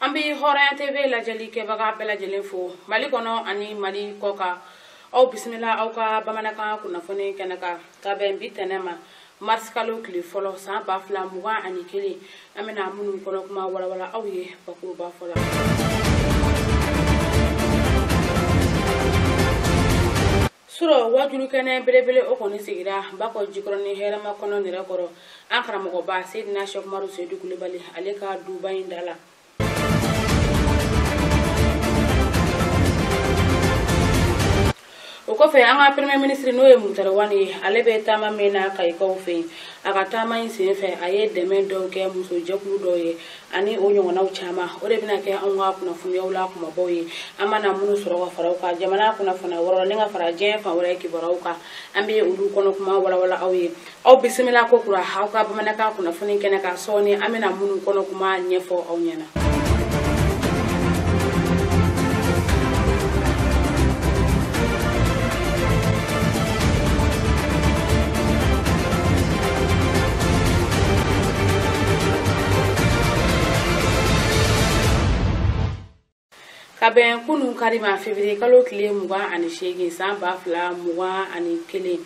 an bɛ hɔrɔnya tv lajɛli kɛbaga bɛɛ lajɛlen fo mali kɔnɔ ani mali kɔkan aw bisimila aw ka bamanankan kunnafoni kɛnɛ kan ka bɛn bi tɛnɛ ma marisikalo tile fɔlɔ san ba fila mugan ani kelen an bɛna minnu kɔnɔ kuma walawala aw ye bakuruba fɔlɔ surɔ wajulu kɛnɛ belebele o kɔni sigira bakɔjikɔrɔni hɛrɛmakɔnɔ nɛrɛkɔrɔ an karamɔgɔba seydina sɛkumaru seyidu kulibali ale ka duba in da la o kɔfɛ an ka premier ministre n'o ye mutari wani ye ale bɛ taama min na kayikaw fɛ yen a ka taama in sen fɛ a ye dɛmɛ dɔw kɛ musojɛkulu dɔw ye ani o ɲɔgɔnnaw caman o de bɛna kɛ anw ka kunnafoniyaw la kumabaw ye an mana minnu sɔrɔ ka fara u kan jamana kunnafoniya wɔrɔ ni ka fara diɲɛ fan wɛrɛ kibaruyaw kan an bɛ olu kɔnɔ kuma walawala aw ye aw bisimila kokura aw ka bamanankan kunnafoni kɛnɛ kan sɔɔni an bɛna minnu kɔnɔ kuma ɲɛfɔ aw ɲɛna ka bɛn kunun kari ma fevrier kalo tile mugan ani seegin san ba fila mugan ani kelen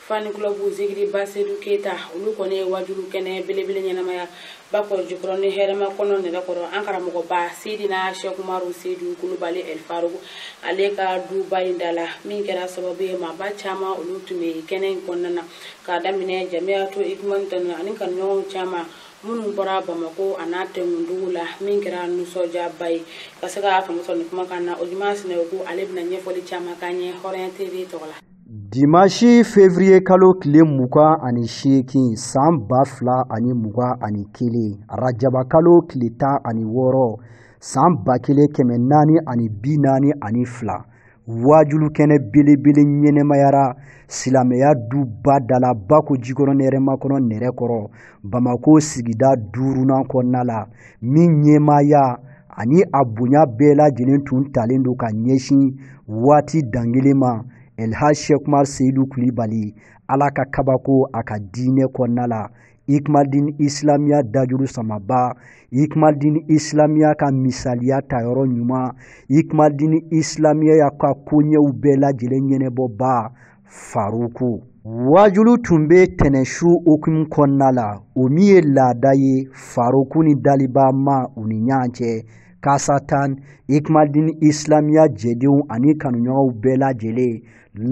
fan club zigiri basedu keyita olu kɔni ye wajulu kɛnɛ belebele ɲɛnamaya bakɔjikɔrɔni hɛrɛmakɔnɔ nɛrɛkɔrɔ an karamɔgɔba seydina sɛkumaru seyidu kulibali ɛli faruku ale ka duba in da la min kɛra sababu ye maaba caman olu tun bɛ kɛnɛ in kɔnɔna na k'a daminɛ jamiyatu ikumani tanu ani kanuɲɔgɔnw caman minnu bɔra bamako a n'a tɛnkundugu la min kɛra nisɔndiyaba ye ka se ka famusɔn ni kumakan na o ɲuman sinɛ ko ale bɛna ɲɛfɔli caman k'an ye hɔrɔnya tv tɔgɔ la Dimansi fevrier kalo tile mugan ani seegin san ba fila ani mugan ani kelen rajaba kalo tile tan ani wɔɔrɔ san ba kelen kɛmɛ naani ani bi naani ani fila wajulu kɛnɛ belebele ɲɛnamayara silamɛya duba da la bakɔjikɔrɔni hɛrɛmakɔnɔ nɛrɛkɔrɔ bamakɔ sigida duurunan kɔnɔna la min ɲɛmaaya ani a bonya bɛɛ lajɛlen tun talen don ka ɲɛsin waati dangelen ma elhaj shɛkumaru seyidu kulibali ala ka kabako a ka diinɛ kɔnɔna la ikmadin isilamiya dajuru samaba ikmadin isilamiya ka misaliya tayɔrɔ ɲuman ikmadin isilamiya ka koɲɛw bɛɛ lajɛlen ɲɛnabɔba faruku wajulu tun bɛ tɛnɛsu hukumu kɔnɔna la o min ye laada ye faruku ni daliba ma u ni ɲɔgɔn cɛ kasatan ikumadin isilamiya jɛdenw ani kanuɲɔgɔnw bɛɛ lajɛlen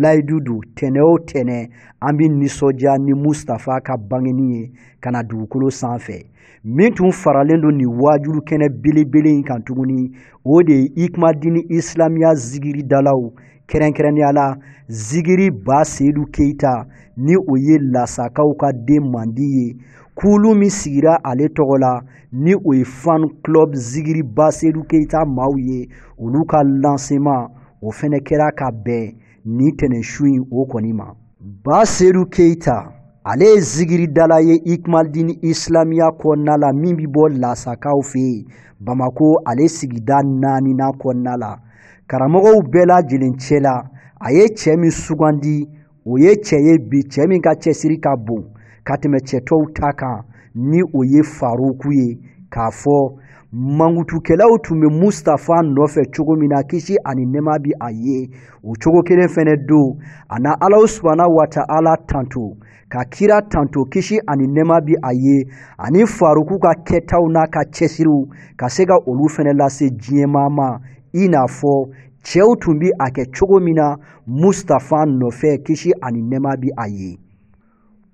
layidu don tɛnɛ o tɛnɛ an bɛ nisɔndiya ni mustafa ka bangeni ye ka na dugukolo sanfɛ min tun faralen don nin waajulu kɛnɛ belebele in kan tuguni o de ye ikumadini isilamiya zigiri dalaw kɛrɛnkɛrɛnnenya la zigiri ba seyidu keyita ni o ye lasakaw ka den mandi ye kulu min sigira ale tɔgɔ la ni o ye fan club zigiri ba seyidu keyita maaw ye olu ka lancement o fɛnɛ kɛra ka bɛn ni tɛnɛnsu in o kɔni ma ba sedu keyita ale ye zigiridala ye ikumadini isilamiya kɔnɔna la min bɛ bɔ lasakaw fɛ bamako ale sigida naaninan kɔnɔna la karamɔgɔw bɛɛ lajɛlen cɛ la a ye cɛ min sugandi o ye cɛ ye bi cɛ min ka cɛsiri ka bon ka tɛmɛ cɛ tɔw ta kan ni o ye faruku ye k'a fɔ mankutukɛlaw tun bɛ mustafa nɔfɛ cogo min na kisi ani nɛma bi a ye o cogo kelen fɛnɛ don a na alahu subhana wa ta'ala tanto ka kira tanto kisi ani nɛma bi a ye ani faruku ka kɛtaw n'a ka cɛsiriw ka se ka olu fɛnɛ lase diɲɛmaa ma i n'a fɔ cɛw tun bi a kɛ cogo min na mustafa nɔfɛ kisi ani nɛma bi a ye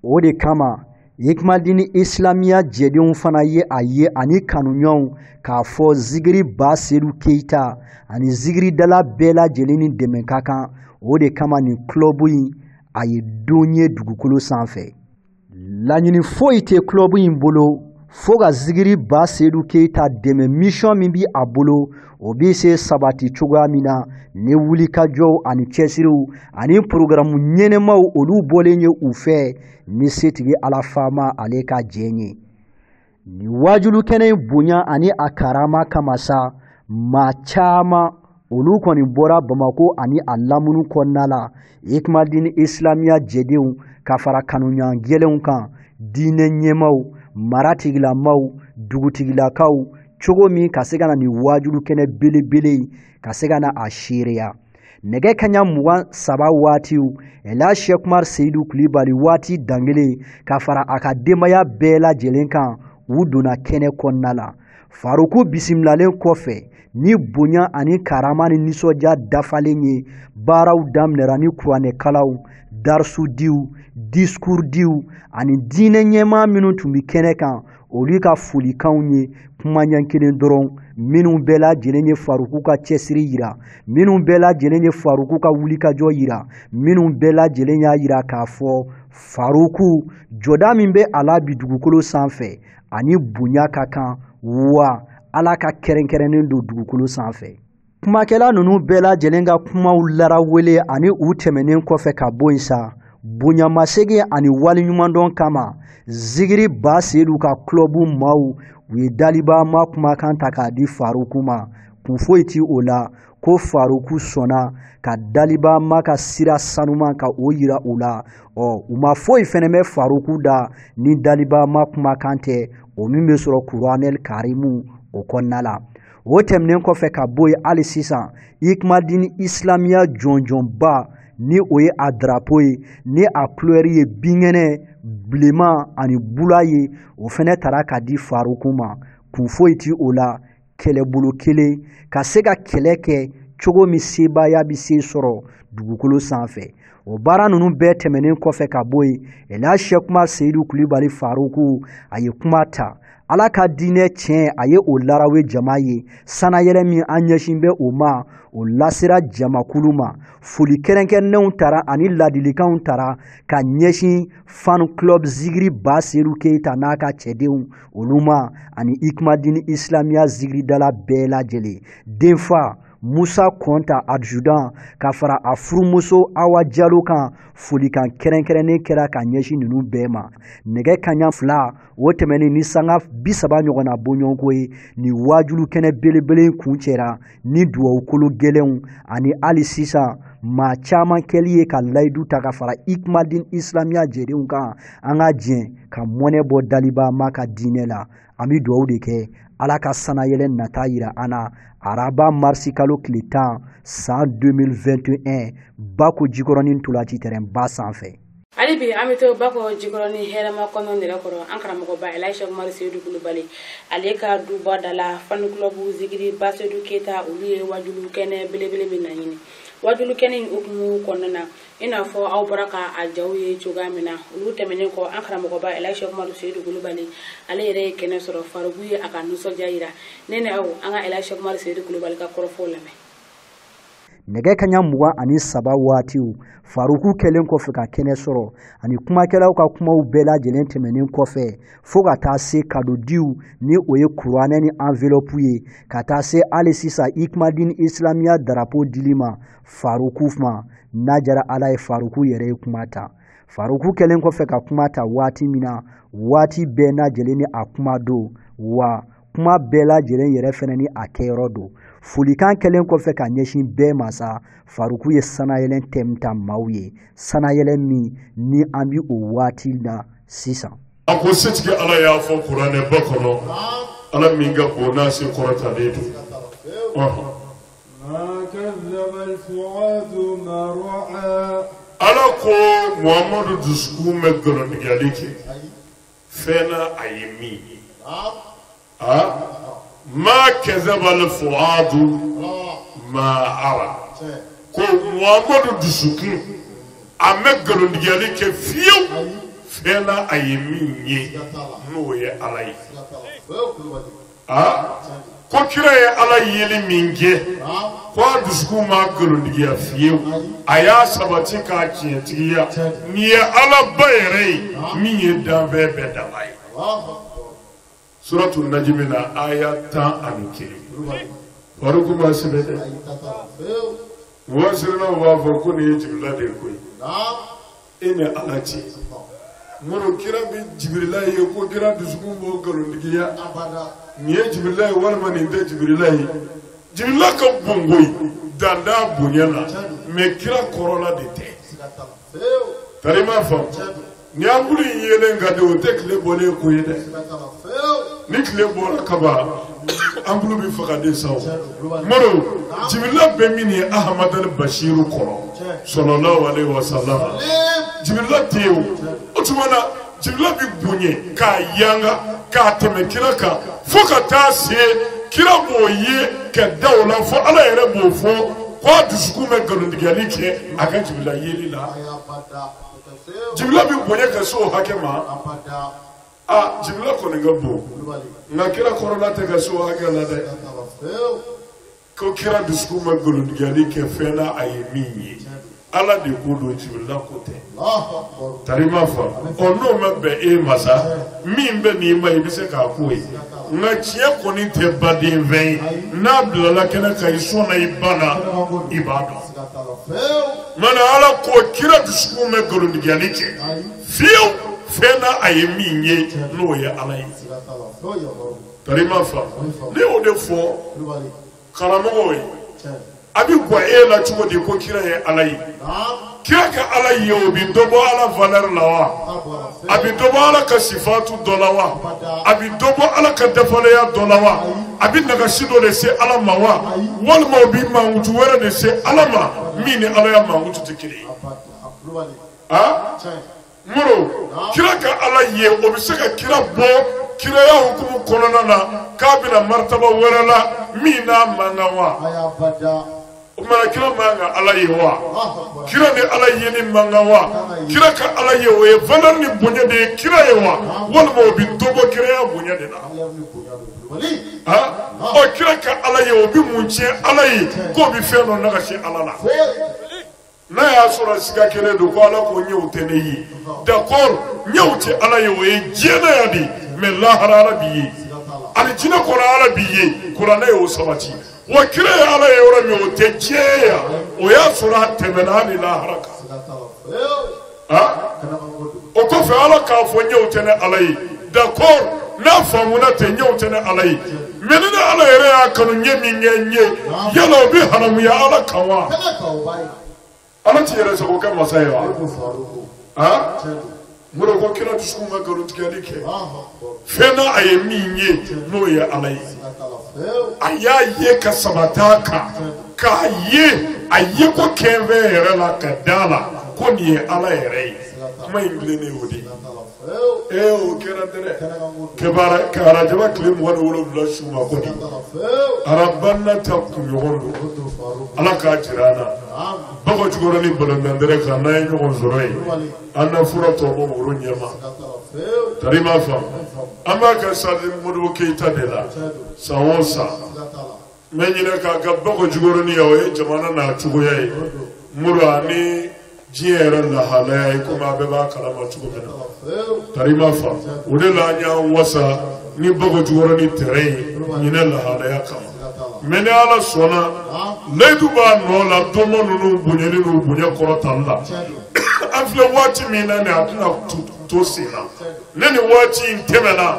o de kama ikumadini isilamiya jɛdenw fana ye a ye ani kanuɲɔgɔnw k'a fɔ zigiri ba sedu keyita ani zigiridala bɛɛ lajɛlen ni dɛmɛ ka kan o de kama nin kulɔbu in a ye don ye dugukolo sanfɛ laɲini foyi tɛ kulɔbu in bolo fo ka zigiri ba sedu keyita dɛmɛ misiyɔn min bi a bolo o bɛ se sabati cogoya min na ni wulikajɔw ani cɛsiriw ani porogaramu ɲɛnamaw olu bɔlen ye u fɛ ni setigi ala faama ale ka jɛn ye nin waajulu kɛnɛ in bonya ani a karama kama sa maa caman olu kɔni bɔra bamako ani a lamunu kɔnɔna la Ikumadini Islamiya jɛdenw ka fara kanuɲɔgɔn gɛlɛnw kan diinɛ ɲɛmaaw maratigilamaw dugutigilakaw cogo min ka se ka na nin waajulu kɛnɛ belebele in ka se ka na a seereya nɛgɛ kaɲa mugan saba waatiw ɛlaji sɛki umar seyidu kulibali waati dangelen ka fara a ka denbaya bɛɛ lajɛlen kan u donna kɛnɛ kɔnɔna la faruku bisimilalen kɔfɛ ni bonya ani karama ni nisɔndiya dafalen ye baaraw daminɛra ni kuranɛkalanw darisudiw disikurudiw ani diinɛ ɲɛmaa minnu tun bɛ kɛnɛ kan olu ka folikanw ye kuma ɲɛ kelen dɔrɔn minnu bɛɛ lajɛlen ye faruku ka cɛsiri yira minnu bɛɛ lajɛlen ye faruku ka wulikajɔ yira minnu bɛɛ lajɛlen y'a yira k'a fɔ faruku jɔda min bɛ a la bi dugukolo sanfɛ ani bonya ka kan wa ala ka kɛrɛnkɛrɛnnen don dugukolo sanfɛ kumakɛla ninnu bɛɛ lajɛlen ka kumaw larawele ani u tɛmɛnen kɔfɛ ka bɔ yen sa bonyamasegin ani waleɲumandɔn kama zigiri ba seyidu ka kulɔbu maaw u ye daliba ma kumakan ta k'a di faruku ma kun foyi ti o la ko faruku sɔnna ka daliba ma ka sira sanuman ka o yira u la ɔ u ma foyi fɛnɛ mɛn faruku da ni daliba ma kumakan tɛ o min bɛ sɔrɔ kuranɛli karimu o kɔnɔna la o tɛmɛnen kɔfɛ ka bɔ yen hali sisan ikumadini isilamiya jɔnjɔnba ni o ye a darapo ye ni a kulɛri ye binkɛnɛ bilenman ani bula ye o fɛnɛ tara ka di faruku ma kun foyi ti o la kɛlɛbolo kelen ka se ka kɛlɛ kɛ cogo min sebaaya bɛ se sɔrɔ dugukolo sanfɛ o baara ninnu bɛɛ tɛmɛnen kɔfɛ ka bɔ yen ela shɛki umari seyidu kulibali faruku a ye kuma ta ala ka diinɛ tiɲɛ a ye o larawe jama ye sanayɛlɛ min an ɲɛsin bɛ o ma o lasera jamakulu ma foli kɛrɛnkɛrɛnnenw tara ani ladilikanw tara ka ɲɛsin fan club zigiri ba seyidu keyita n'a ka cɛdenw olu ma ani ikumadini isilamiya zigiridala bɛɛ lajɛlen denfa musa kɔnta adjudan ka fara a furumuso awa jalo kan folikan kɛrɛnkɛrɛnnen kɛra ka ɲɛsin ninnu bɛɛ ma nɛgɛ kaɲa fila o tɛmɛnin ni sanga bisaba ɲɔgɔnna bɔɲɔgɔnko ye nin waajulu kɛnɛ belebele kuncɛra ni dugawukolo gɛlɛnw ani hali sisan maa caman kɛli ye ka layidu ta ka fara ikumadin isilamiya jɛdenw kan an ka jɛn ka mɔnɛ bɔ daliba ma ka diinɛ la an bɛ dugawu de kɛ ala ka sanayɛlɛ nata yira an na araba marisi kalo tile tan san 2021 bako jikɔrɔnin ntolaci tɛrɛnba sanfɛ hali bi an bɛ to bako jikɔrɔnin hɛrɛmakɔnɔ nɛrɛkɔrɔ an karamɔgɔba ela shɛki umari seyidu kulubali ale ka duba da la fan kulɔbu zigiri ba seyidu keyita olu ye wajulu kɛnɛ belebele min naɲini wajulu kɛnɛ in hukumu kɔnɔna na i n'a fɔ aw bɔra ka a jaw ye cogoya min na olu tɛmɛnen kɔ an karamɔgɔba ela shɛki umari seyidu kulubali ale yɛrɛ ye kɛnɛ sɔrɔ faruku ye a ka nisɔndiya yira ne ni aw an ka ela shɛki umari seyidu kulubali ka kɔrɔfɔw lamɛn nɛgɛ kaɲa mugan ani saba waatiw faruku kɛlen kɔfɛ ka kɛnɛ sɔrɔ ani kumakɛlaw ka kumaw bɛɛ lajɛlen tɛmɛnen kɔfɛ fo ka taa se kadodiw ni o ye kuranɛ ni anvelopu ye ka taa se hali sisan ikumadin isilamiya darapo dili ma faruku ma n'a jara ala ye faruku yɛrɛ ye kuma ta faruku kɛlen kɔfɛ ka kuma ta waati min na waati bɛɛ lajɛlen ni a kuma don wa kuma bɛɛ lajɛlen yɛrɛ fɛnɛ ni a kɛyɔrɔ don folikan kɛlen kɔfɛ ka ɲɛsin bɛɛ ma sa faruku ye sannayɛlɛn tɛm ta maaw ye sannayɛlɛn min ni an bi o waati na sisan a ko setigi ala y'a fɔ kuranɛ ba kɔnɔ ala min ka bon n'a se kɔrɔtalen don ala ko muhamadu dusukun mɛ nkalontigɛli kɛ fɛn na a ye min ye ma kazabal fuadu ma ara ko muhamadu dusukun a mɛ nkalontigɛli kɛ fiyewu fɛn na a ye min ye n'o ye ala ye ko kira ye ala yeli min kɛ ko a dusukun ma nkalontigiya fiyewu a y'a sabati k'a tiɲɛtigiya nin ye alaba yɛrɛ ye min ye danfɛn bɛɛ dabaa ye suratu najimi na aya tan ani kelen faruku m'a sɛbɛn dɛ mufasirinaw b'a fɔ ko nin ye jibila de ko ye e ni ala cɛ modibo kira bɛ jibirila ye ko kira dusukun b'o nkalontigiya nin ye jibirila ye walima nin tɛ jibirila ye jibirila ka bon koyi dan t'a bonya la mɛ kira kɔrɔla de tɛ tarima fa ni anpulu in yeelen ka di o tɛ tile bɔlen kɔ ye dɛ ni tile bɔra kaban Anpulu bɛ faga de sa o, tiɲɛ don, tulo b'a dimi, Modibo, naamu, Jibirila bɛ min ye Ahamadal Basiru kɔrɔ Tiɲɛ. salalahu aleyihi wasalama ee, Jibirila tɛ yen o, o tuma na Jibirila bɛ bonya ka yanga ka tɛmɛ kira kan fo ka taa se kira b'o ye ka da o la fo Ala yɛrɛ b'o fɔ ko a dusukun mɛ nkalontigɛli kɛ a ka Jibirila yeli la ayi abada, a tɛ se o, Jibirila bɛ bonya ka se o hakɛ ma abada. aa jibirila kɔni ka bon nka kira kɔrɔla tɛ ka se o hakɛ la dɛ ko kira dusukun mɛ nkalontigiyali kɛ fɛn na a ye min ye ala de ko don jibirila ko tɛ tarima fa ɔ n'o ma bɛn e ma sa min bɛnn'i ma i bɛ se k'a k'o ye nka tiɲɛ kɔni tɛ baden fɛn ye n'a bilala kɛnɛ kan i sɔnna i banna i b'a dɔn mana ala ko kira dusukun mɛ nkalontigiyali kɛ fiyewu fɛn na a ye min ye n'o ye ala ye tarima fa ne y'o de fɔ karamɔgɔw ye a bɛ gwan e la cogo di ko kira ye ala ye kira ka ala ye o bɛ dɔ bɔ ala valɛri la wa a bɛ dɔ bɔ ala ka sifatu dɔ la wa a bɛ dɔ bɔ ala ka dafaleya dɔ la wa a bɛ nagasi dɔ de se ala ma wa walima o bɛ mankutu wɛrɛ de se ala ma min ni ala ya mankutu tɛ kelen ye. aa muru kira ka ala ye o bɛ se ka kira bɔ kiraya hukumu kɔnɔna na k'a bila maritaba wɛrɛ la min n'a man kan wa o tuma na kira man kan ala ye wa kira ni ala yeli man kan wa kira ka ala ye o ye valeur ni bonya de ye kira ye wa walima o bɛ dɔ bɔ kiraya bonya de la ɔ kira ka ala ye o bɛ mun tiɲɛ ala ye k'o bɛ fɛn dɔ nagasi ala la. n'a y'a sɔrɔ siga kelen don ko ala ko ɲɛw tɛ ne ye d'accord ɲɛw tɛ ala ye o ye diɲɛ na yan de mais lahara ala bɛ ye alijinɛ kɔnɔ ala bɛ ye kuranɛ y'o sabati wa kira ye ala ye yɔrɔ min o tɛ diɲɛ yan o y'a sɔrɔ a tɛmɛna hali lahara kan o kɔfɛ ala k'a fɔ ɲɛw tɛ ne ala ye d'accord n'a faamuna tɛ ɲɛw tɛ ne ala ye mais ni ne ala yɛrɛ y'a kanu ɲɛ min ka n ye yala o bɛ haramuya ala kan wa ala t'i yɛrɛ sago kɛ masa ye wa muru ko kira dusukun ka nkalontigɛli kɛ fɛn na a ye min ye n'o ye ala ye a y'a ye ka sabati a kan k'a ye a ye ko kɛnfɛn yɛrɛ la ka da la ko nin ye ala yɛrɛ ye kuma in tilennen o de ye ee o kɛra dɛrɛ kebara ka arajaba tile mugan ni wolonwula su ma ko nin araba nata kunɲɔgɔn don ala k'a jira an na bako jikɔrɔni balontan tɛrɛn kan n'an ye ɲɔgɔn sɔrɔ yen an na fura tɔ bɔ woro ɲɛ ma tari ma fa an b'a kɛ stade modibo keyita de la san o san mais ɲinɛ k'a kɛ bako jikɔrɔni yan o ye jamana n'a cogoya ye muru ani diɲɛ yɛrɛ lahalaya ye komi a bɛɛ b'a kalama cogo min na tari ma fa o de la an y'an wasa ni bako jikɔrɔni tɛrɛn ye ɲinɛ lahalaya kama mais ni ala sɔnna layidu b'a nɔ la donba ninnu bonyani n'u bonya kɔrɔtali la an filɛ waati min na nin a tɛna to sen na ni nin waati in tɛmɛna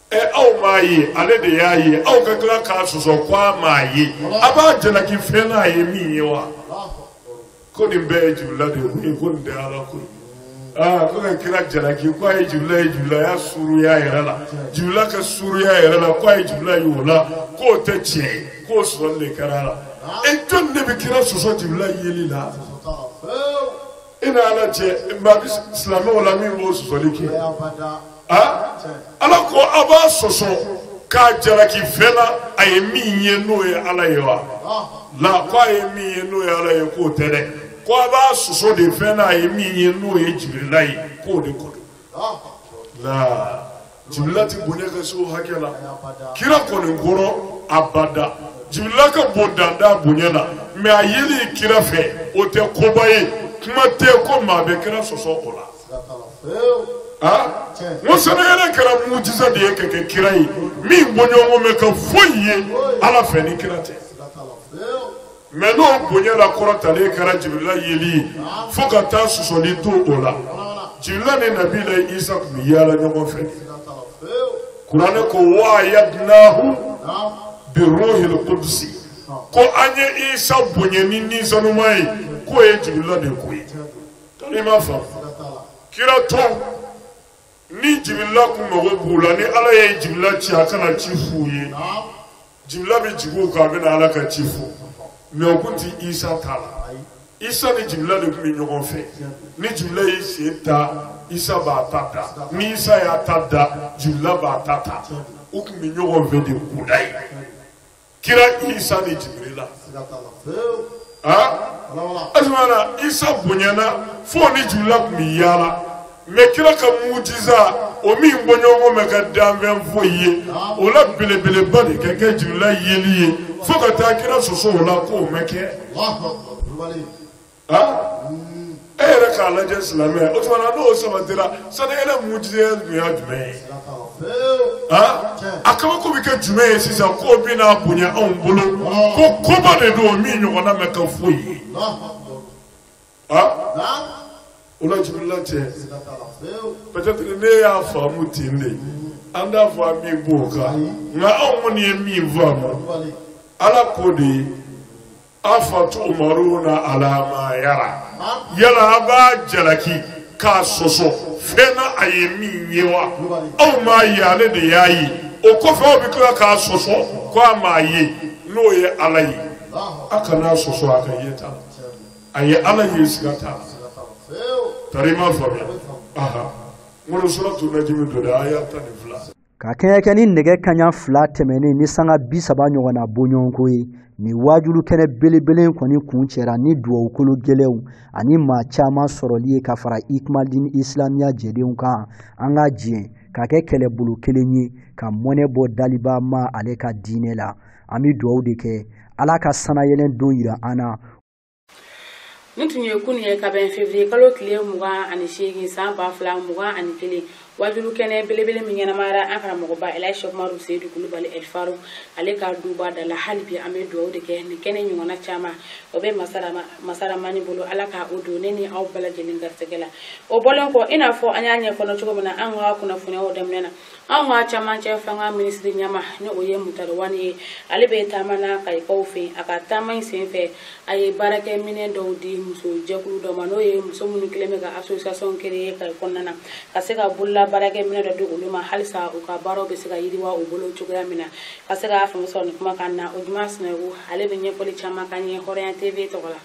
ɛ aw m'a ye ale de y'a ye aw ka tila k'a sɔsɔ ko a m'a ye a b'a jalaki fɛn na a ye min ye wa ko nin bɛɛ ye jibirila de yeko ye ko nin tɛ ala ko ye aa ko ka kira jalaki ko a ye jibirila y'a suruya yɛrɛ la jibirila ka suruya yɛrɛ la ko a ye jibirila ye o la k'o tɛ tiɲɛ ye k'o sɔsɔli de kɛra a la e jɔni de bɛ kira sɔsɔ jibirila yeli la I n'a lajɛ bi silamɛw la min b'o sɔsɔli kɛ a ala ko aw b'a sɔsɔ k'a jalaki fɛn la a ye min ye n'o ye ala ye wala ko a ye min ye n'o ye ala ye k'o tɛ dɛ ko a b'a sɔsɔ de fɛn la a ye min ye n'o ye jibirila ye k'o de ko don la jibirila ti bonya ka se o hakɛ la kira kɔni kɔrɔ abada jibirila ka bon danda bonya la mɛ a yeli kira fɛ o tɛ koba ye kuma tɛ ko maa bɛ kira sɔsɔ o la n ko sanayɛlɛn kɛra mujiza de ye ka kɛ kira ye min bɔɲɔgɔn mɛ kɛ foyi ye ala fɛ ni kira tɛ Mɛ n'o bonyala kɔrɔtalen kɛra jibirila yeli ye fo ka taa sɔsɔli don o la jibirila ni nabilayi isa tun bɛ yaala ɲɔgɔn fɛ kuranɛ ko wa ayadnahu biruhil kudusi ko an ye isa bonya ni ni sanuma ye k'o ye jibirila de ko ye i m'a faamu kira tɔw ni jibirila kun mago b'u la ni ala ye jibirila ci a ka na ci f'u ye naam jibirila bɛ jigin u kan a bɛna ala ka ci fɔ mɛ o kun ti isa ta la ayi isa ni jibirila de kun bɛ ɲɔgɔn fɛ ni jibirila y'i sen ta isa b'a ta da ni isa y'a ta da jibirila b'a ta ta u kun bɛ ɲɔgɔn fɛ de kudayi kira isa ni jibirila asimana isa bonyana fo ni jibirila kun bɛ yaala mɛ kira ka mujiza o min bɔɲɔgɔn mɛ kɛ danfɛn foyi ye o la belebeleba de ka kɛ jibirila yeli ye fo ka taa kira sɔsɔ o la k'o mɛ kɛ. e yɛrɛ k'a lajɛ silamɛ o tuma na n'o sabatira sanayɛlɛn mujiza tun y'a jumɛn ye a kabako bɛ kɛ jumɛn ye sisan k'o bɛna bonya anw bolo ko koba de don min ɲɔgɔnna mɛ kɛ foyi ye o la jibirila cɛ peut-être ne y'a faamu ten de an t'a fɔ an b'i b'o kan nka anw kɔni ye min faamu ala ko de ye. Afatumaruna ala ma yara yala a b'a jalaki k'a sɔsɔ fɛn na a ye min ye wa aw m'a ye ale de y'a ye o kɔfɛ aw bɛ tila k'a sɔsɔ ko a m'a ye n'o ye ala ye a kan'a sɔsɔ a ka yeta la a ye ala ye siga t'a la tari ma faamuya n ko suratu najimi don dɛ aya tan ni fila ka kɛɲɛ kɛ ni nɛgɛ kaɲa fila tɛmɛnen ni sanga bi saba ɲɔgɔnna bɔɲɔgɔnko ye nin waajulu kɛnɛ belebele kɔni kuncɛra ni dugawukolo gɛlɛnw ani maa caman sɔrɔli ye ka fara ikumadini isilamiya jɛdenw kan an ka jɛn ka kɛ kɛlɛbolo kelen ye ka mɔnɛ bɔ daliba ma ale ka diinɛ la an bɛ dugawu de kɛ ala ka sanayɛlɛn don yira an na nin tun ye kunu ye ka bɛn fevriye kalo tile mugan ani seegin san ba fila mugan ani kelen wajulu kɛnɛ belebele min ɲɛnamayara an karamɔgɔba elaji seku umaru seyidu kulubali ɛlifaru ale ka duba da la hali bi an bɛ dugawu de kɛ nin kɛnɛ ɲɔgɔnna caman o bɛ masa ramani bolo ala ka o don ne ni aw bɛɛ lajɛlen garisɛgɛ la o bɔlen kɔ i n'a fɔ an y'a ɲɛkɔnɔ cogo min na an ka kunnafoniw daminɛ na anw ka camancɛ fanga minisiri ɲama ni o ye mutari wani ye ale bɛ taama na kayikaw fɛ a ka taama in sen fɛ a ye baarakɛminɛ dɔw di muso jɛkulu dɔ ma n'o ye muso minnu kɛlen bɛ ka association créer kayi kɔnɔna na ka se ka bolola baarakɛminɛ dɔ di olu ma halisa u ka baaraw bɛ se ka yiriwa u bolo cogoya min na ka se ka faamu sɔrɔ nin kumakan na o juma sinaku ale bɛ ɲɛfɔli caman k'an ye hɔrɔnya tv tɔgɔ la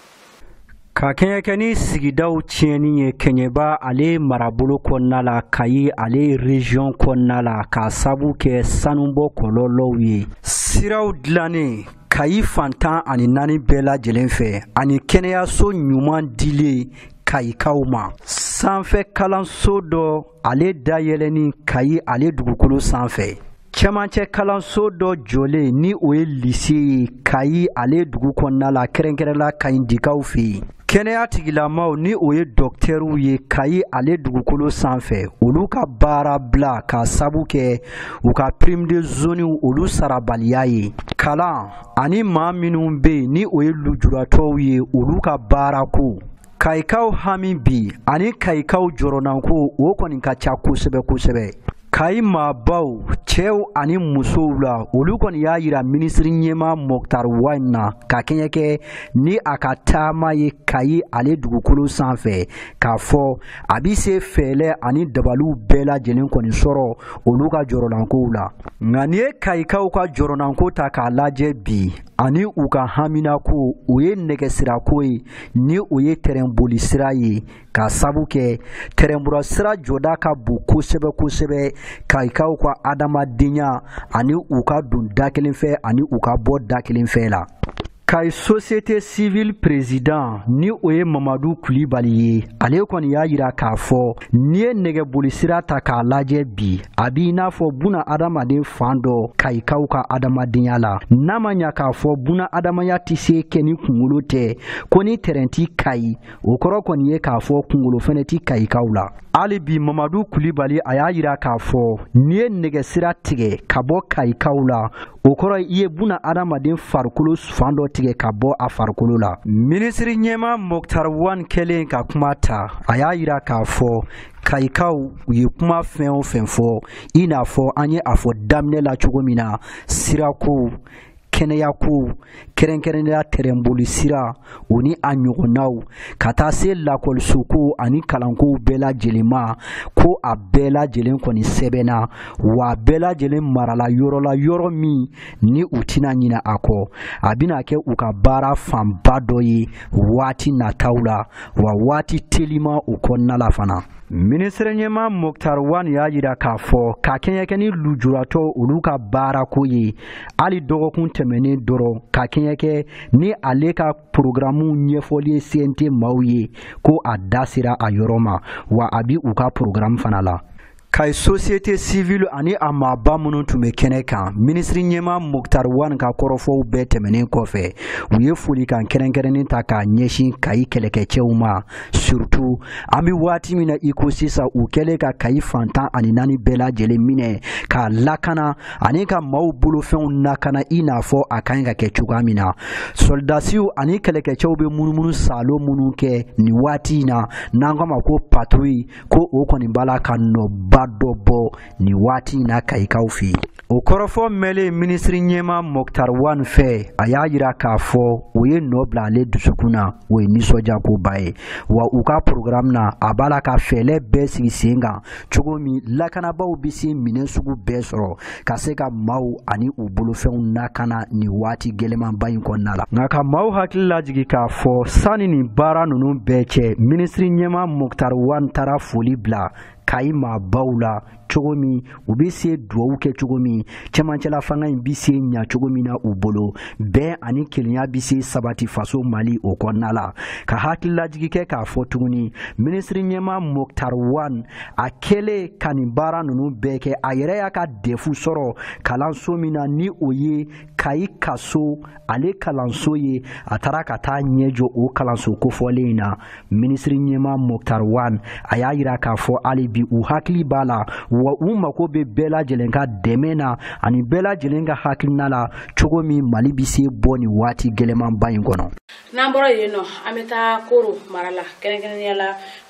ka kɛɲɛ kɛ ni sigidaw tiɲɛni ye kɛɲɛba ale marabolo kɔnɔna la kayi ale région kɔnɔna la k'a sabu kɛ sanubɔ kɔlɔlɔw ye siraw dilannen kayi fan tan ani naani bɛɛ lajɛlen fɛ ani kɛnɛyaso ɲuman dilen kayikaw ma sanfɛ kalanso dɔ ale dayɛlɛni kayi ale dugukolo sanfɛ cɛmancɛ kalanso dɔ jɔlen ni o ye lise ye kayi ale dugu kɔnɔna la kɛrɛnkɛrɛnla kayindikaw fɛ yen kɛnɛya tigilamaw ni o ye dɔktɛriw ye kayi ale dugukolo sanfɛ olu ka baara bila k'a sabu kɛ u ka prime de zoniw olu sarabaliya ye kalan ani maa minnu bɛ yen ni o ye lujuratɔw ye olu ka baarako kayikaw hami bi ani kayikaw jɔrɔnanko o kɔni ka ca kosɛbɛ kosɛbɛ kayi maabaw cɛw ani musow la olu kɔni y'a yira minisiri ɲɛma mɔktar wan na ka kɛɲɛ kɛ ni a ka taama ye kayi ale dugukolo sanfɛ k'a fɔ a bɛ se fɛɛlɛ ani dabaliw bɛɛ lajɛlen kɔni sɔrɔ olu ka jɔrɔnankow la nka n'i ye kayikaw ka jɔrɔnanko ta k'a lajɛ bi ani u ka haminako o ye nɛgɛsirako ye ni o ye tɛrɛnboli sira ye k'a sabu kɛ tɛrɛnboli sira jɔda ka bon kosɛbɛ kosɛbɛ kayikaw ka adamadenya ani u ka don da kelen fɛ ani u ka bɔ da kelen fɛ la kayi société civile président ni o ye mamadu kulibali ye ale kɔni y'a yira k'a fɔ N'i ye nɛgɛboli sira ta k'a lajɛ bi a b'i n'a fɔ buna adamaden fan dɔ kayikaw ka adamadenya la n'a ma ɲa k'a fɔ buna adamaya tɛ se kɛ ni kunkolo tɛ ko ni tɛrɛn ti kayi o kɔrɔ kɔni ye k'a fɔ kunkolo fɛnɛ ti kayikaw la hali bi mamadu kulibali a y'a yira k'a fɔ n'i ye nɛgɛsira tigɛ ka bɔ kayikaw la o kɔrɔ i ye buna adamaden farikolo fan dɔ tigɛ ka bɔ a farikolo la minisiri ɲɛma moktar wan kɛlen ka kuma ta a y'a yira k'a fɔ kayikaw u ye kuma fɛn o fɛn fɔ i n'a fɔ an ye a fɔ daminɛ la cogo min na sirakow kɛnɛyakow kɛrɛnkɛrɛnnenya tɛrɛnboli sira o ni a ɲɔgɔnnaw ka taa se lakɔlisokow ani kalankow bɛɛ lajɛlen ma ko a bɛɛ lajɛlen kɔni sɛbɛnna wa a bɛɛ lajɛlen marala yɔrɔ la yɔrɔ min ni u tɛna ɲina a kɔ a bɛna kɛ u ka baara fanba dɔ ye waati nataw la wa waati telima o kɔnɔna la fana minisiri ɲɛma moktar wan y'a yira k'a fɔ ka kɛɲɛ kɛ ni lujuratɔ olu ka baarako ye hali dɔgɔkun tɛmɛnen dɔrɔn ka kɛɲɛ kɛ ni ale ka porogaramu ɲɛfɔli ye CNT maaw ye ko a da sera a yɔrɔ ma wa a bi u ka porogaramu fana la kayi sosiyete sivili ani a maaba minnu tun bɛ kɛnɛ kan minisiri ɲɛma moktar wan ka kɔrɔfɔw bɛɛ tɛmɛnen kɔfɛ u ye folikan kɛrɛnkɛrɛnnen ta k'a ɲɛsin kayi kɛlɛkɛcɛw ma surtu an bɛ waati min na i ko sisan u kɛlen ka kayi fan tan ani naani bɛɛ lajɛlen minɛ k'a lakana ani ka maaw bolofɛnw nakana i n'a fɔ a ka ɲi ka kɛ cogoya min na sɔlidasiw ani kɛlɛkɛcɛw bɛ munumunu saalo minnu kɛ nin waati in na n'an k'a ma ko paturi ko o kɔni b'a la ka nɔba dɔ bɔ nin waati in na kayikaw fɛ yen o kɔrɔfɔ mɛnlen minisiri ɲɛma moktar wan fɛ a y'a yira k'a fɔ o ye nɔ bila ale dusukun na o ye nisɔndiyakoba ye wa u ka porogaramu na a b'a la ka fɛɛlɛ bɛɛ sigi sen kan cogo min lakanabaaw bɛ se minɛn sugu bɛɛ sɔrɔ ka se ka maaw ani u bolofɛnw nakana nin waati gɛlɛmanba in kɔnɔna la nka ka maaw hakili lajigi k'a fɔ sanni nin baara ninnu bɛɛ cɛ minisiri ɲɛma moktar wan taara foli bila kayi maabaw la cogo min u bɛ se duwawu kɛ cogo min cɛmancɛla fanga in bi se ɲa cogo min na u bolo bɛn ani kelenya bi se sabati faso mali o kɔnɔna la ka hakililajigi kɛ k'a fɔ tuguni minisiri ɲɛma moktar wan a kɛlen ka nin baara ninnu bɛɛ kɛ a yɛrɛ y'a ka dɛfu sɔrɔ kalanso min na ni o ye kayi kaso ale kalanso ye a taara ka taa ɲɛ jɔ o kalanso kofɔlen in na minisiri ɲɛma moktar wan a y'a yira k'a fɔ hali bi u hakili b'a la wa u mako bɛ bɛɛ lajɛlen ka dɛmɛ na ani bɛɛ lajɛlen ka hakilina la cogo min mali bɛ se bɔ nin waati gɛlɛmanba in kɔnɔ n'an bɔra yen nɔ an bɛ taa koro mara la kɛrɛnkɛrɛnnenya la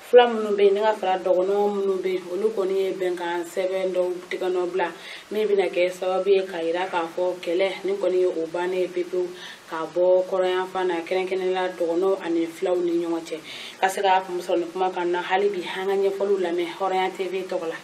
fila minnu bɛ yen ni ka fara dɔgɔnɔw minnu bɛ yen olu kɔni ye bɛnkan sɛbɛn dɔw tigɛnɔ bila min bɛna kɛ sababu ye k'a yira k'a fɔ kɛlɛ nin kɔni ye o bannen ye pepewu k'a bɔ kɔrɔ yanfan na kɛrɛnkɛrɛnnenya dɔgɔnɔw ani filaw ni ɲɔgɔn cɛ ka se k'a kun sɔrɔ nin kuma kan na hali bi an ka ɲɛfɔliw lamɛn hɔrɔnya tv tɔgɔ la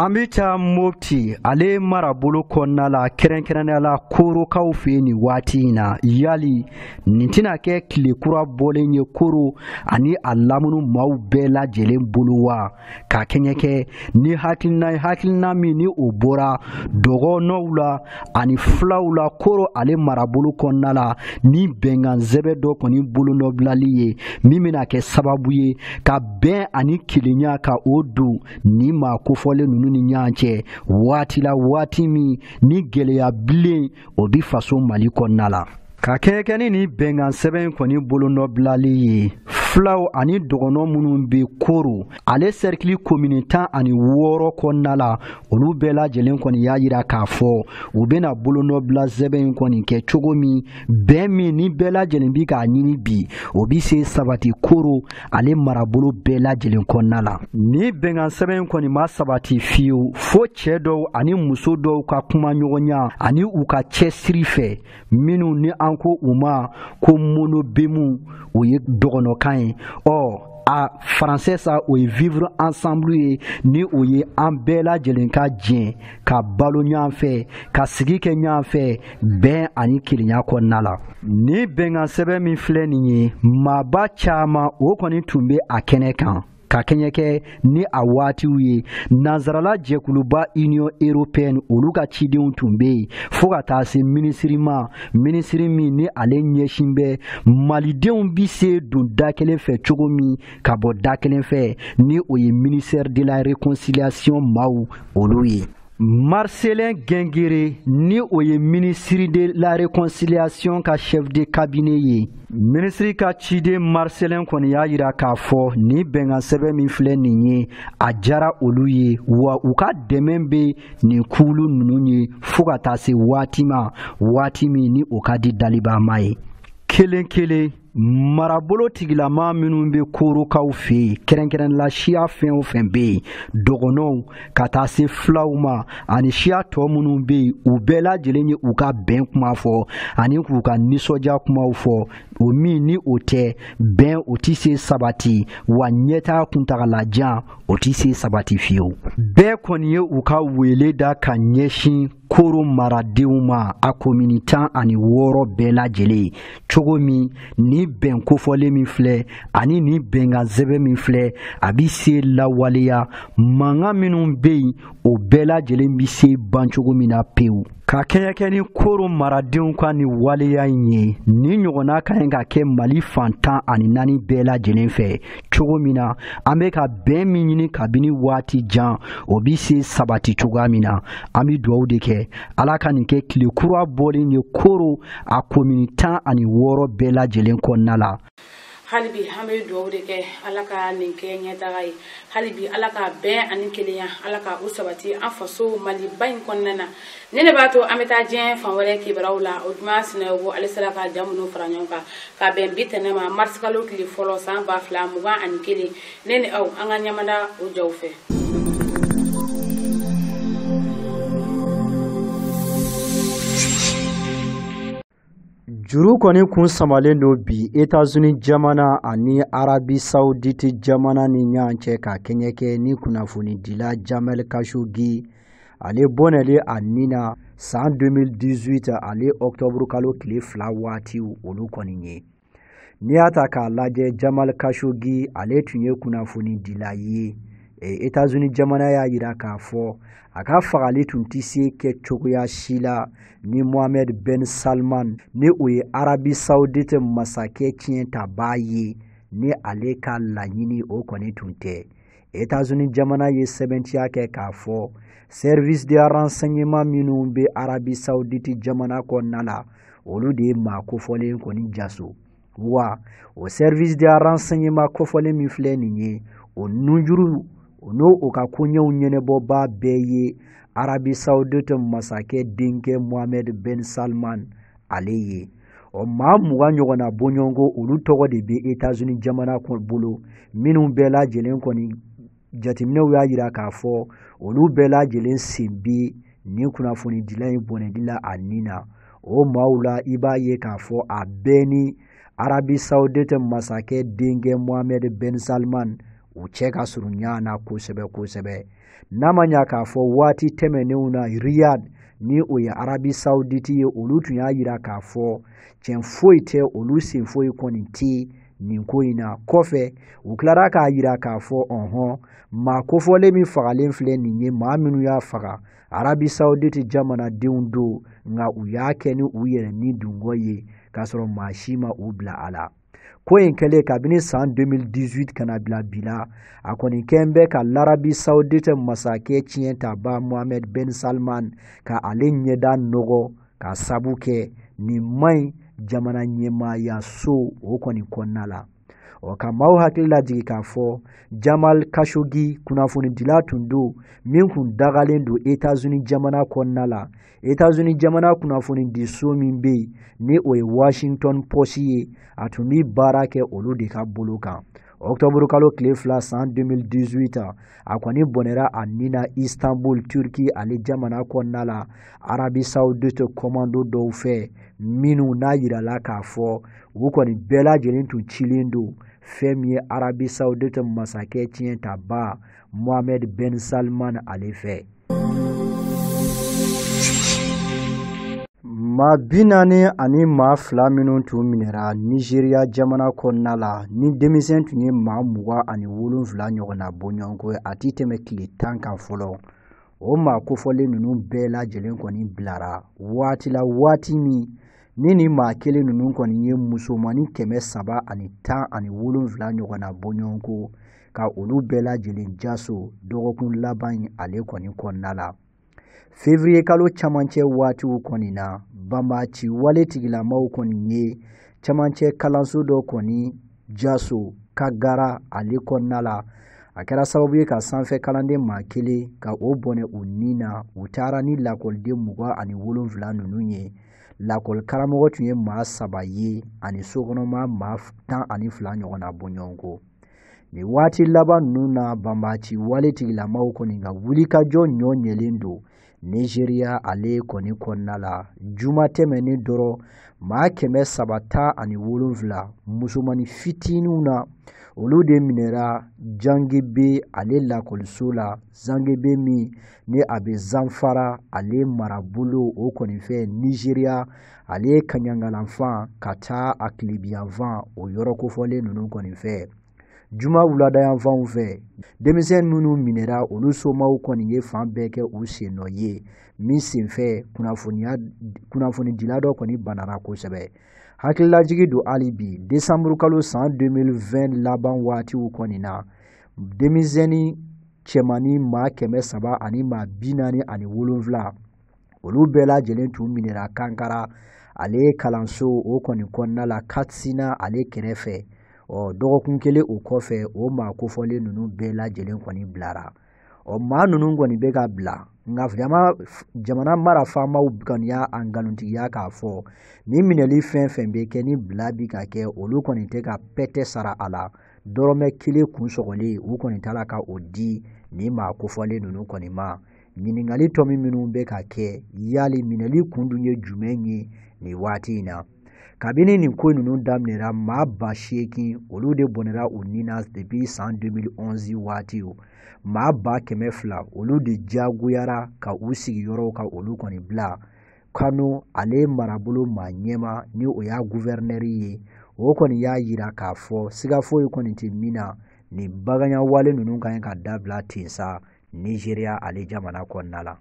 an bɛ taa mopti ale marabolo kɔnɔna la kɛrɛnkɛrɛnnenya la korokaw fɛ yen nin waati in na yali nin tɛna kɛ tile kura bɔlen ye koro ani a lamunu maaw bɛɛ lajɛlen bolo wa ka kɛɲɛ kɛ ni hakilina ye hakilina min ni o bɔra dɔgɔnɔw la ani filaw la koro ale marabolo kɔnɔna la ni bɛnkan sɛbɛn dɔ kɔni bolonɔbilali ye min bɛna kɛ sababu ye ka bɛn ani kelenya ka o don ni maa kofɔlen ninnu ni ɲɔgɔn cɛ waati la waati min ni gɛlɛya bilen o bi faso mali kɔnɔna la ka kɛɲɛ kɛ ni nin bɛnkan sɛbɛn kɔni bolonɔbilali ye filaw ani dɔgɔnɔ minnu bɛ koro ale sɛrikili komini tan ani wɔɔrɔ kɔnɔna la olu bɛɛ lajɛlen kɔni y'a yira k'a fɔ u bɛna bolonɔbila sɛbɛn in kɔni kɛ cogo min bɛn min ni bɛɛ lajɛlen bi k'a ɲini bi o bi se sabati koro ale marabolo bɛɛ lajɛlen kɔnɔna la nin bɛnkan sɛbɛn kɔni ma sabati fiyewu fo cɛ dɔw ani muso dɔw ka kumaɲɔgɔnya ani u ka cɛsiri fɛ minnu ni an ko u ma ko monobemu o ye dɔgɔnɔkan ye ɔ a faransɛ sa o ye vivre ensemble ye ni o ye an bɛɛ lajɛlen ka jɛn ka balo ɲɔgɔn fɛ ka sigi kɛ ɲɔgɔn fɛ bɛn ani kelenya kɔnɔna la nin bɛnkan sɛbɛn min filɛ nin ye maaba caman o kɔni tun bɛ a kɛnɛ kan ka kɛɲɛ kɛ ni a waatiw ye nansarala jɛkuluba union européenne olu ka cidenw tun bɛ yen fo ka taa se minisiri ma minisiri min ni ale ɲɛsin bɛ malidenw bɛ se don da kelen fɛ cogo min ka bɔ da kelen fɛ ni o ye ministère de la réconciliation maaw olu ye Marcelin Guenguéré ni o ye minisiri de la réconciliation ka chef de cabinet ye minisiri ka ciden Marcelin kɔni y'a yira k'a fɔ nin bɛnkan sɛbɛn min filɛ nin ye a diyara olu ye wa u ka dɛmɛ bɛ nin kulu ninnu ye fo ka taa se waati ma waati min ni o ka di dalibaama ye kelen kelen marabolo tigilama minnu bɛ korokaw fɛ yen kɛrɛnkɛrɛnla siya fɛn o fɛn bɛ yen dɔgɔnɔw ka taa se filaw ma ani siya tɔ minnu bɛ yen u bɛɛ lajɛlen ye u ka bɛn kuma fɔ ani k'u ka nisɔndiya kumaw fɔ o min ni o tɛ bɛn o tɛ se sabati wa ɲɛtaa kuntagalajan o tɛ se sabati fiyewu bɛɛ kɔni ye u ka wele da ka ɲɛsin koro maradenw ma a komini tan ani wɔɔrɔ bɛɛ lajɛlen cogo min ni bɛn kofɔlen min filɛ ani nin bɛnkan sɛbɛn min filɛ a bi se lawaleya mankan minnu bɛ yen o bɛɛ lajɛlen bi se ban cogo min na pewu ka kɛɲɛ kɛ ni koro maradenw ka nin waleya in ye nin ɲɔgɔnna ka ɲi ka kɛ mali fan tan ani naani bɛɛ lajɛlen fɛ cogo min na an bɛ ka bɛn min ɲini kabini waati jan o bi se sabati cogoya min na an bi dugawu de kɛ ala ka nin kɛ tile kura bɔlen ye koro a komini tan ani wɔɔrɔ bɛɛ lajɛlen kɔnɔna la halibi an bɛ dugawu de kɛ ala ka nin kɛ ɲɛtaga ye halibi ala ka bɛn ani kelenya ala ka u sabati an faso maliba in kɔnɔna na nin de b'a to an bɛ taa diɲɛ fan wɛrɛ kibaruyaw la ojuma sinayoko ale sera ka ja minnu fara ɲɔgɔn kan ka bɛn bi tɛnɛ ma marisikalo tile fɔlɔ san ba fila mugan ani kelen ne ni aw an ka ɲamada o jaw fɛ juru kɔni kun samalen don bi etazuni jamana ani arabi sauditi jamana ni ɲɔgɔn cɛ ka kɛɲɛ kɛ ni kunnafonidila jamal kashogi ale bɔnɛli a ni na san 2018 ale ɔktɔburukalo tile fila waatiw olu kɔni ye n'i y'a ta k'a lajɛ jamal kashogi ale tun ye kunnafoni dila ye e, etazuni jamana y'a yira k'a fɔ a ka fagali tun tɛ se kɛ cogoya si la ni mohamed ben salman ni o ye arabi saudite masakɛ tiɲɛtabaa ye ni ale ka laɲini o kɔni tun tɛ Etazini jamana ye sɛbɛntiya kɛ k'a fɔ service de renseignement minnu bɛ Arabie Saoudite jamana kɔnɔna la olu de ye maa kofɔlen kɔni jaso wa o service de renseignement kofɔlen min filɛ nin ye o nunjuru o n'o ka koɲɛw ɲɛnabɔbaa bɛɛ ye Arabie Saoudite masakɛ denkɛ Mohamed Ben Salman ale ye ɔ maa mugan ɲɔgɔn na bɔɲɔgɔnko olu tɔgɔ de bɛ etazini jamana bolo minnu bɛɛ lajɛlen kɔni jateminɛw y'a yira k'a fɔ olu bɛɛ lajɛlen sen bɛ nin kunnafonidila in bɔnɛli la a ni na o maaw la i b'a ye k'a fɔ a bɛɛ ni arabi saudite masakɛ denkɛ mohamɛd ben salman u cɛ ka surun ɲɔgɔn na kosɛbɛ kosɛbɛ n'a ma ɲa k'a fɔ waati tɛmɛnenw na riyad ni o ye arabi sauditi ye olu tun y'a yira k'a fɔ tiɲɛ foyi tɛ olu sen foyi kɔni tɛ nin ko in na kɔfɛ u tilara k'a yira k'a fɔ ɔhɔn maa kofɔlen min fagalen filɛ nin ye maa minnu y'a faga arabi sauditi jamanadenw don nka u y'a kɛ ni u yɛrɛ nidungɔ ye k'a sɔrɔ maa si ma u bila a la ko in kɛlen kabini san 2018 ka na bila bi la a kɔni kɛn bɛ ka larabi saudite masakɛ tiɲɛtabaa mohamed ben salman ka ale ɲɛda nɔgɔ k'a sabu kɛ nin man ɲi jamana ɲɛmaaya so o kɔni kɔnɔna la ɔ ka maaw hakili lajigin k'a fɔ jamal kashogi kunnafonidila tun don min kun dagalen don etazuni jamana kɔnɔna la etazuni jamana kunnafonidiso min bɛ yen ni o ye washington post ye a tun bɛ baara kɛ olu de ka bolo kan ɔktɔburu kalo tile fila san 2018 a kɔni bɔnɛra a ni na istanbul turki ale jamana kɔnɔna la arabi saudite kɔmando dɔw fɛ minnu n'a yirala k'a fɔ u kɔni bɛɛ lajɛlen tun cilen don fɛn min ye arabi saudite masakɛ tiɲɛtaba Mohamed Ben Salman ale fɛ. Maa bi naani ani maa fila minnu tun minɛra Nizeriya jamana kɔnɔna la ni denmisɛn tun ye maa mugan ani wolonfila ɲɔgɔnna bɔɲɔgɔnko a tɛ tɛmɛ tile tan kan fɔlɔ o maa kofɔlen ninnu bɛɛ lajɛlen kɔni bilara waati la waati min ni nin maa kelen ninnu kɔni ye musomannin kɛmɛ saba ani tan ani wolonfila ɲɔgɔnna bɔɲɔgɔnko ka olu bɛɛ lajɛlen jaso dɔgɔkun laban in ale kɔni kɔnɔna la fevriye kalo camancɛ waatiw kɔni na banbaci wale tigilamaw kɔni ye camancɛ kalanso dɔ kɔni jaso kagara ale kɔnɔna la a kɛra sababu ye ka sanfɛ kalanden maa kelen ka o bɔnɛ u ni na u taara ni lakɔliden mugan ani wolonfila ninnu ye lakɔli karamɔgɔ tun ye maa saba ye ani sokɔnɔma maa tan ani fila ɲɔgɔnna bɔɲɔgɔnko nin waati laban ninnu na banbaci wale tigilamaw kɔni ka wulikajɔ ɲɔ ɲɛlen don nizeriya ale kɔni kɔnɔna la juma tɛmɛnen dɔrɔn maa kɛmɛ saba tan ani wolonfila musomani fitininw na olu de minɛra jangebe ale lakɔliso la zangebe min ni a bɛ zanfara ale marabolo o kɔni fɛ nizeriya ale ye kaɲangalanfan ka taa a tilebiyanfan o yɔrɔ kofɔlen ninnu kɔni fɛ juma wuladayanfanw fɛ denmisɛn minnu minɛra olu somaw kɔni ye fan bɛɛ kɛ u sen nɔ ye min senfɛ kunnafonidila dɔ kɔni banara kosɛbɛ hakililajigi don hali bi desanburu kalo san 2020 laban waatiw kɔni na denmisɛnnin cɛmannin maa kɛmɛ saba ani maa bi naani ani wolonfila olu bɛɛ lajɛlen tun minɛra kankara ale kalanso o kɔni kɔnɔna la katsina ale kɛrɛfɛ ɔ dɔgɔkun kelen o kɔfɛ o maa kofɔlen ninnu bɛɛ lajɛlen kɔni bilara ɔ maa ninnu kɔni bɛ ka bila nka jamana mara faamaw kɔni y'a nkalontigiya k'a fɔ ni minɛli fɛn fɛn bɛ kɛ ni bila bi ka kɛ olu kɔni tɛ ka pɛtɛ sara a la dɔrɔmɛ kelen kun sɔgɔlen u kɔni t'a la ka o di nin maa kofɔlen ninnu kɔni ma ɲininkali tɔmi minnu bɛ ka kɛ yali minɛli kun dun ye jumɛn ye nin waati in na kabini nin ko ninnu daminɛra maa ba seegin olu de bɔnɛra u ni na depuis san 2011 waatiw maa ba kɛmɛ fila olu de jagoyara ka u sigiyɔrɔw ka olu kɔni bila kano ale marabolo maa ɲɛma ni o y'a guvɛrinɛri ye o kɔni y'a yira k'a fɔ siga foyi kɔni tɛ min na nin baganyawale ninnu ka ɲi ka dabila ten sa nizeriya ale jamana kɔnɔna la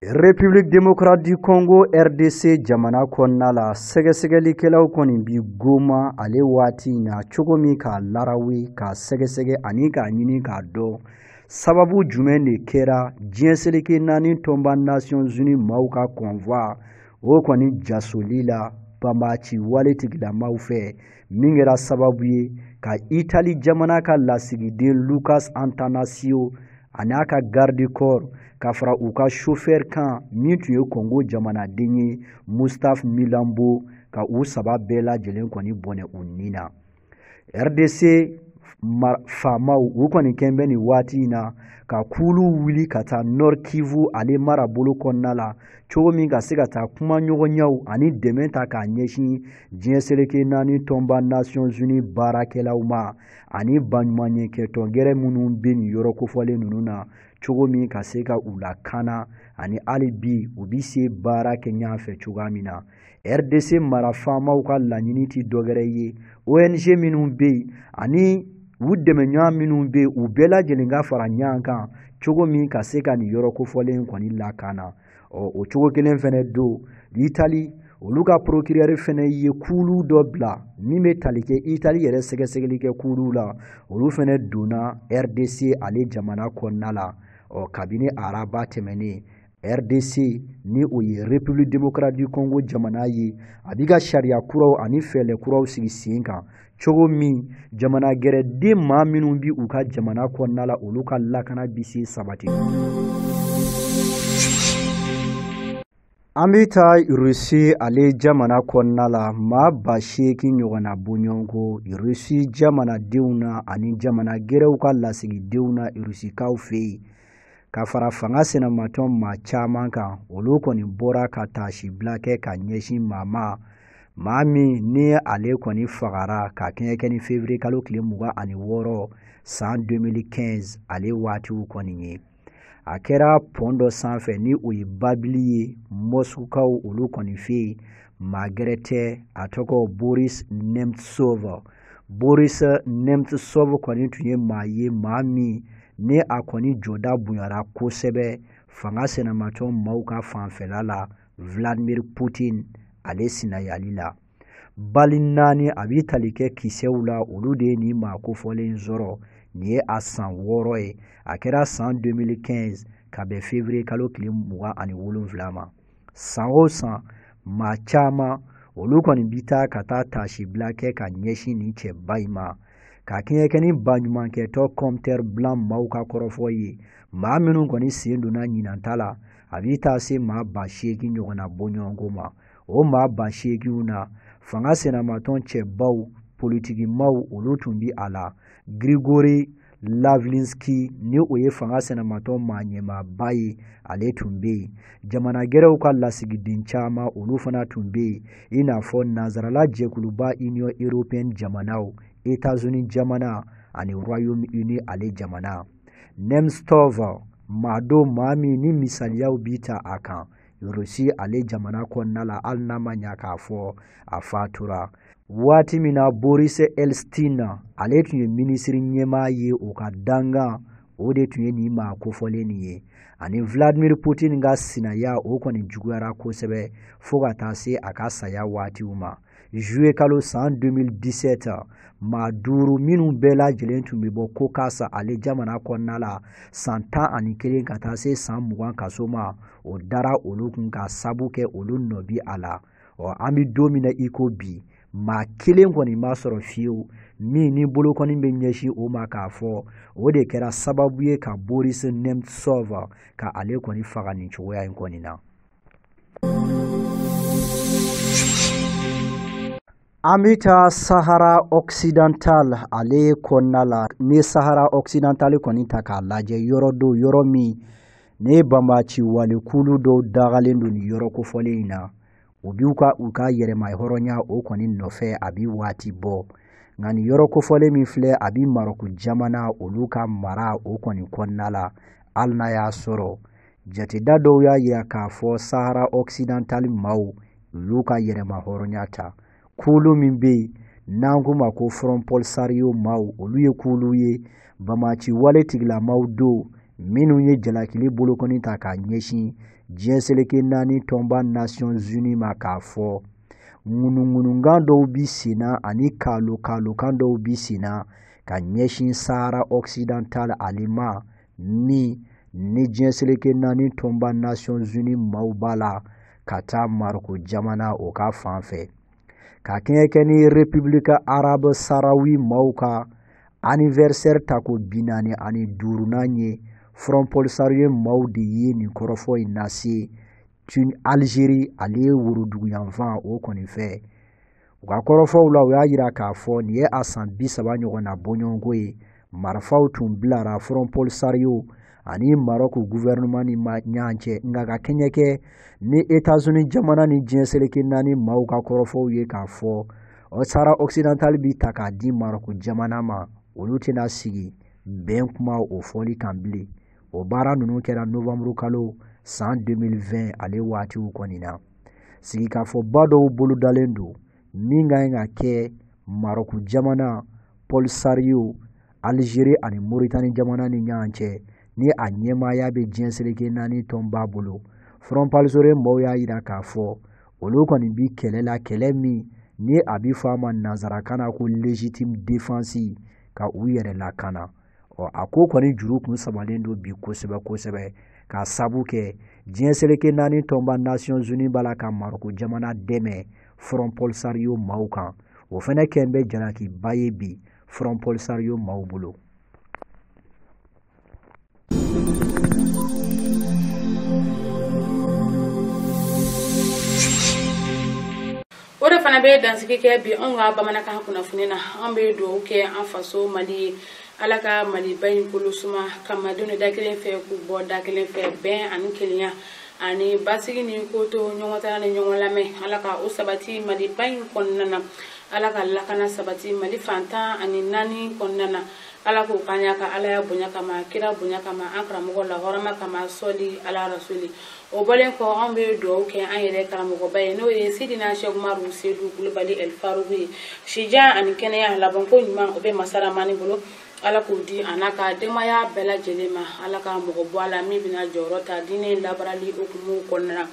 République démocrate du Congo RDC jamana kɔnɔna la sɛgɛsɛgɛlikɛlaw kɔni bi goma ale waati in na cogo min k'a larawe k'a sɛgɛsɛgɛ ani k'a ɲini k'a dɔn sababu jumɛn de kɛra diɲɛ seleke naani tɔnba Nations Unies maaw ka convoi o kɔni jasoli la banbaaci wale tigilamaw fɛ min kɛra sababu ye ka itali jamana ka lasigiden lucas antanasio ani a ka garde corps ka fara u ka chauffeur kan min tun ye kongo jamanaden ye mustapha milambo ka u saba bɛɛ lajɛlen kɔni bɔnɛ u ni na rdc faamaw u kɔni kɛn bɛ nin waati in na ka kulu wuli ka taa nord kivu ale marabolo kɔnɔna la cogo min ka se ka taa kumaɲɔgɔnyaw ani dɛmɛ ta k'a ɲɛsin diɲɛ seleke naani tɔnba nations unies baarakɛlaw ma ani baɲumanyakɛtɔn gɛrɛ minnu bɛ nin yɔrɔ kofɔlen ninnu na cogo min ka se ka u lakana ani hali bi u bi se baara kɛ ɲɔgɔn fɛ cogoya min na rdc mara faamaw ka laɲini tɛ dɔgɛrɛ ye ong minnu bɛ yen ani u dɛmɛɲɔgɔn minnu bɛ yen u bɛɛ lajɛlen ka fara ɲɔgɔn kan cogo min ka se ka nin yɔrɔ kofɔlen kɔni lakana ɔ o cogo kelen fɛnɛ don itali olu ka procureur fɛnɛ ye kuulu dɔ bila min bɛ tali kɛ itali yɛrɛ sɛgɛsɛgɛli kɛ kuuluw la olu fɛnɛ donna rdc ale jamana kɔnɔna la ɔ kabini araba tɛmɛnen rdc ni o ye république démocrate du congo jamana ye a b'i ka sariya kuraw ani fɛɛlɛ kuraw sigi sen kan cogo min jamana gɛrɛden maa minnu bi u ka jamana kɔnɔna la olu ka lakana bi se sabati an bɛ taa russie ale jamana kɔnɔna la maa ba seegin ɲɔgɔnna bɔɲɔgɔnko russie jamanadenw na ani jamana gɛrɛw ka lasigidenw na russiekaw fɛ yen ka fara fanga sinamatɔn maa caman kan olu kɔni bɔra ka taasibila kɛ ka ɲɛsin maa ma maa min ni ale kɔni fagara ka kɛɲɛ kɛ ni fevriye kalo tile mugan ani wɔɔrɔ san 2015 ale waatiw kɔni ye a kɛra pɔn dɔ sanfɛ ni o ye babili ye moscoukaw olu kɔni fɛ yen maa gɛrɛ tɛ a tɔgɔ boris nemtsov boris nemtsov kɔni tun ye maa ye maa min ni a kɔni jɔda bonyara kosɛbɛ fanga sinamatɔn maaw ka fanfɛla la vladimir putin ale sinayali la bali naani a bi tali kɛ kisɛw la olu de ye nin maa kofɔlen sɔrɔ nin ye a san wɔɔrɔ ye a kɛra san 2015 ka bɛn fevriye kalo tile mugan ani wolonwula ma san o san maa caman olu kɔni bi taa ka taa taasibila kɛ ka ɲɛsin nin cɛba in ma ka kɛɲɛ kɛ ni baɲumankɛtɔ compteur blanc maaw ka kɔrɔfɔ ye maa minnu kɔni sen donna ɲinan ta la a bi taa se maa ba seegin ɲɔgɔnna bɔɲɔgɔnko ma o maa ba seeginw na fanga sinamatɔn cɛbaw politikimaw olu tun bi a la grigori lavlinski ni o ye fanga sinamatɔn maa ɲɛmaaba ye ale tun bɛ yen jamana gɛrɛw ka lasigiden caman olu fana tun bɛ yen i n'a fɔ nansarala jɛkuluba union européenne jamanaw états-unis jamana ani royaume uni ale jamana nemtsov maa don maa min ni misaliyaw bi ta a kan Rusi ale jamana kɔnɔna la hali n'a ma ɲa k'a fɔ a fatura waati min na Boris Eltsine ale tun ye minisiri ɲɛmaa ye o ka dangan o de tun ye nin maa kofɔlen nin ye ani Vladimir Putin ka sinaya o kɔni juguyara kosɛbɛ fo ka taa se a ka saya waatiw ma juillet kalo san 2017 maa duuru minnu bɛɛ lajɛlen tun bɛ bɔ caucase ale jamana kɔnɔna la san tan ani kelen ka taa se san mugan kaso ma o dara olu kun ka sabu kɛ olu nɔ bi a la ɔ an bɛ don min na i ko bi maa kelen kɔni ma sɔrɔ fiyewu min ni bolokɔni bɛ ɲɛsin o ma k'a fɔ o de kɛra sababu ye ka boris nemtsov ka ale kɔni faga nin cogoya in kɔni na An bɛ taa Sahara Occidental ale kɔnɔna la n'i ye Sahara Occidental kɔni ta k'a lajɛ yɔrɔ don yɔrɔ min ni banbaanci wale kulu dɔw dagalen don nin yɔrɔ kofɔlen in na u b'u ka yɛrɛmahɔrɔnya o kɔni nɔfɛ a bɛ waati bɔ nka nin yɔrɔ kofɔlen min filɛ a bɛ Marɔku jamana olu ka mara o kɔni kɔnɔna la hali n'a y'a sɔrɔ Jateda dɔw y'a yira k'a fɔ Sahara occidental maaw olu y'u ka yɛrɛmahɔrɔnya ta kulu min bɛ yen n'an k'u ma ko Front Polisario maaw olu ye kulu ye banbaanci wale tigilamaaw don minnu ye jalakili bolokɔni ta k'a ɲɛsin diɲɛ seleke naani tɔnba Nations Unies ma k'a fɔ ŋunuŋunukan dɔw bi sen na ani kaalo-kaalokan dɔw bi sen na ka ɲɛsin Sahara occidental ale ma min ni diɲɛ seleke naani tɔnba nasiyɔn zuni maaw b'a la ka taa maroko jamana o ka fan fɛ ka kɛɲɛ kɛ ni repibulika arabu sarawi maaw ka anivɛrisɛri tako bi naani ani duurunan ye front polisario maaw de ye nin kɔrɔfɔ in lase tun alizeri ale ye worodugu yanfan o kɔni fɛ u ka kɔrɔfɔw la u y'a yira k'a fɔ nin ye a san bi saba ɲɔgɔnna bɔɲɔgɔnko ye marifaw tun bilara front polisario ani marɔk guvɛrɛnɛman ni ɲɔgɔn cɛ nka ka kɛɲɛ kɛ ni etazuni jamana ni diɲɛ seleke naani maaw ka kɔrɔfɔw ye k'a fɔ sahara ɔksidantali bi ta k'a di marɔk jamana ma olu tɛna sigi bɛn kuma o fɔli kan bilen o baara ninnu kɛra nowanburu kalo san 2020 ale waatiw kɔni na sigikafɔba dɔw bolodalen don min ka ɲi ka kɛ marɔku jamana polisario alizeri ani moritani jamana ni ɲɔgɔn cɛ ni a ɲɛmaaya bɛ diɲɛ seleke naani tɔnba bolo front polisario mɔgɔw y'a yira k'a fɔ olu kɔni bi kɛlɛ la kɛlɛ min ni a bi fɔ a ma nanzarakan na ko legitime defense ka u yɛrɛ lakana ɔ a ko kɔni juru kun samalen don bi kosɛbɛ kosɛbɛ k'a sabu kɛ diɲɛ seleke naani tɔnba nasiyɔn zuni b'a la ka maroko jamana dɛmɛ front polisario maaw kan o fɛnɛ kɛn bɛ jalakiba ye bi front polisario maaw bolo o de fana bɛ dansigi kɛ bi anw ka bamanankan kunnafoni na an bɛ dugawu kɛ an faso mali ye ala ka maliba in kolo suma ka malidenw da kelen fɛ k'u bɔ da kelen fɛ bɛn ani kelenya ani basigi ni kotoɲɔgɔntala ni ɲɔgɔn lamɛn ala ka o sabati maliba in kɔnɔna na ala ka lakana sabati mali fan tan ani naani kɔnɔna na ala k'o k'a yɛrɛ ka alaya bonya kama kira bonya kama an karamɔgɔ la hɔrɔma kama sɔli ala rasuli o bɔlen kɔ anw bɛ dugawu kɛ an yɛrɛ karamɔgɔba ye n'o ye sidina sɛku umaru sedu kulubali ɛli faruku ye sijan ani kɛnɛya labanko ɲuman o bɛ masa ramani bolo ala k'o di a n'a ka denbaya bɛɛ lajɛlen ma ala ka mɔgɔ bɔ a la min bɛna jɔyɔrɔ ta diinɛ labaarali hukumu kɔnɔna na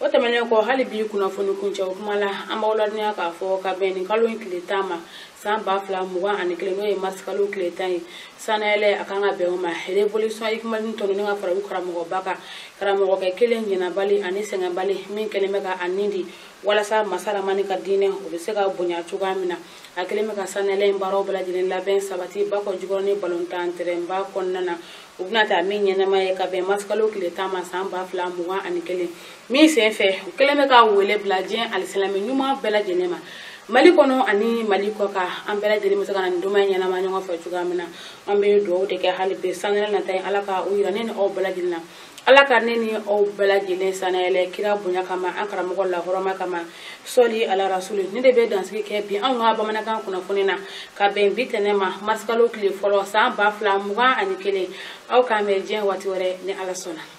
o tɛmɛnen kɔ hali bi kunnafoni kuncɛ o kuma la an b'aw ladɔnniya k'a fɔ ka bɛn nin kalo in tile tan ma san ba fila mugan ani kelen n'o ye marisikalo tile tan ye sanayɛlɛ a kan ka bɛn o ma revolution ikumani tɔnɔni ka fara u karamɔgɔba kan karamɔgɔkɛ kelen ɲinabali ani sɛgɛnbali min kɛlen bɛ ka a nin di walasa masa ramani ka diinɛ o bɛ se ka bonya cogoya min na a kɛlen bɛ ka sanayɛlɛ in baaraw bɛɛ lajɛlen labɛn sabati bakɔjikɔrɔni balɔntan tɛrɛnba kɔnɔna na u bɛna taa min ɲɛnamaya ka bɛn marisikalo tile tan ma san ba fila mugan ani kelen min sen fɛ u kɛlen bɛ ka wele bila diɲɛ alisilami ɲuman bɛɛ lajɛlen ma mali kɔnɔ ani mali kɔkan an bɛɛ lajɛlen bɛ se ka na nin donba ɲɛnamaya ɲɔgɔn fɛ cogoya min na an bɛ dugawu de kɛ hali bi san wɛrɛ nata ye ala ka o yira ne ni aw bɛɛ lajɛlen na ala ka ne ni aw bɛɛ lajɛlen sannayɛlɛ kira bonya kama an karamɔgɔ la hɔrɔma kama sɔli ala rasulu nin de bɛ dansigi kɛ bi anw ka bamanankan kunnafoni na ka bɛn bi tɛnɛn ma marisikalo tile fɔlɔ san ba fila mugan ani kelen aw k'an bɛn diɲɛ waati wɛrɛ ni ala sɔnna